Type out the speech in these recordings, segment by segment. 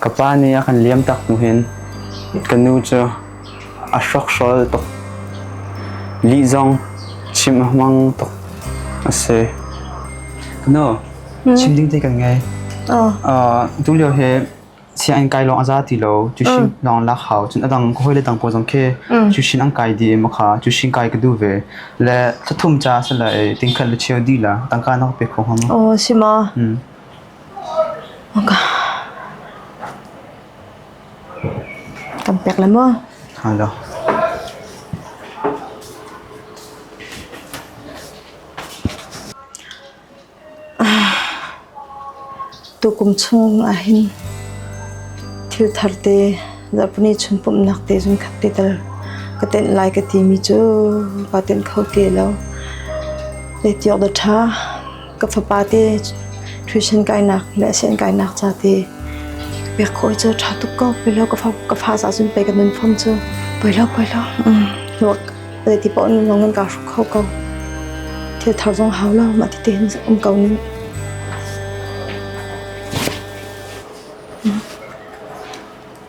Ka pa nih a kan liam tak hnu hin ka nu cu a hrokhrawl tuk. Lih zong chimh a hmang tuk a si. Nu, chim ding te kan ngei. Tulio hi sianginn kai lawng a za ti lo. Tuisin lawng lak hau. Cun a dang ka hawile dang pawl zong khi tuisin an kai dih i makha tuisin kai ka duh ve. Le thla thum ca a si lai, tingkhat le cheu dih la tangka na ka pek kho hnga maw? Si ma? Kan pek le maw? Halo. Tukum chung ahhin thil thar te Japanese chunpumhnak te cun khat te tal ka tenh lai ka timi cu ka tenh kho ti lo. Letiok da ṭha. ka fapa te tuition kainak le sen kainak ca te pek khawi cu tha tuk ko pelo ka fa ka fa sa sun pe ka nun form cu pelo pelo nok dai ti pon long an ka ru kho ko thil thar zong hau lo ma ti te um ko nin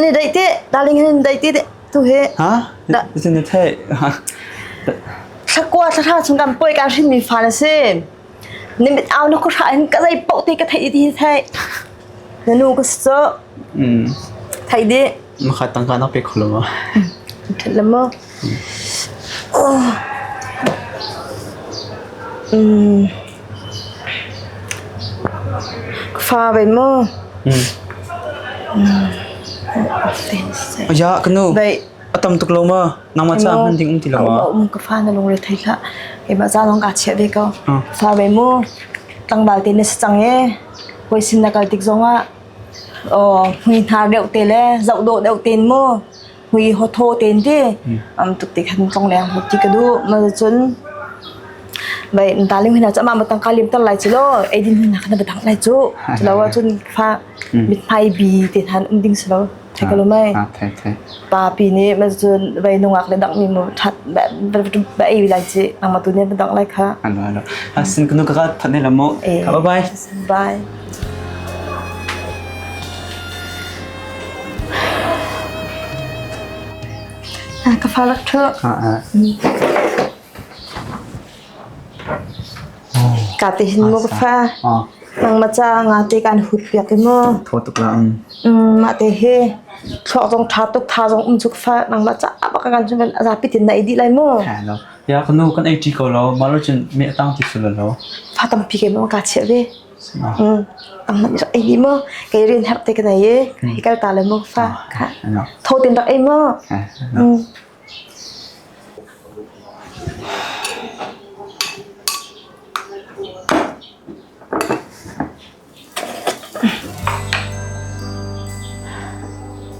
Ni daih teh, darling hin daih teh tu he. Ha? Nitin na theih. Shakwa thla chung kan poi kan hrin mi fa na si. Ni mit au na ku sha hin ka zai pok te ka thei di thei. Na nu ka so. Hmm. Thai di. Maka tangka na pe kholo ma. Thalam mo. Fa ven maw? Aya kanu atam tuk lo ma nangma cha hman ding um ti lo ma um ka fa na lung re thai kha e ba za long ka che ve ko fa ve mu tlangbal te ne chang e koi sin na kal tik zonga o hui hnar deuh te le zau do deuh ten mu Mui ho thaw ten te am tuk te khan phong leng hmu ti ka du ma cun bai dalim hina chama matang ka lim tar lai chu lo edin hina khana batang lai chu lo wa chun fa mit mai bi te than um ding selo the kalo mai pa pi ni ma chun bai nungak le dang mi mu that ba ei lai chi ama tu ne batang lai kha alo alo asin kanu ka thanne lamo bye bye Ka fal ṭhu. Ka te hin mu fa. Nang ma cha nga te kan hut piak mu. Tho tuk la ang. Ma te he thlok zong tha tuk tha zong um tuk fa nang la cha ba kan chun ben aza pitin na idi lai mu. Kha lo. Ya kanu kan ai ti ko lo. Maru chin me atang ti sul lo. Fa tam pi ke mu ka che ve. Ei hi maw kei rian herh te ka nei i hei kal ta le maw fa tho ten rak ei maw.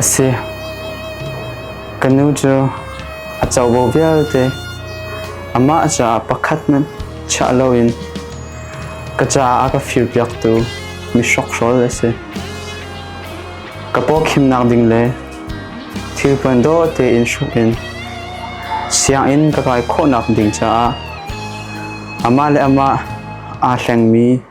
A si. Ka nu cu a covo vialte amah caah pakhat hmanh chiah loin ka caah a ka firpiaktu mi hrokhrawl a si. Ka pawkhimnak ding le thil puan dawh tein hruk in sianginn ka kai khawhnak ding caah amah le amah aa hlengmi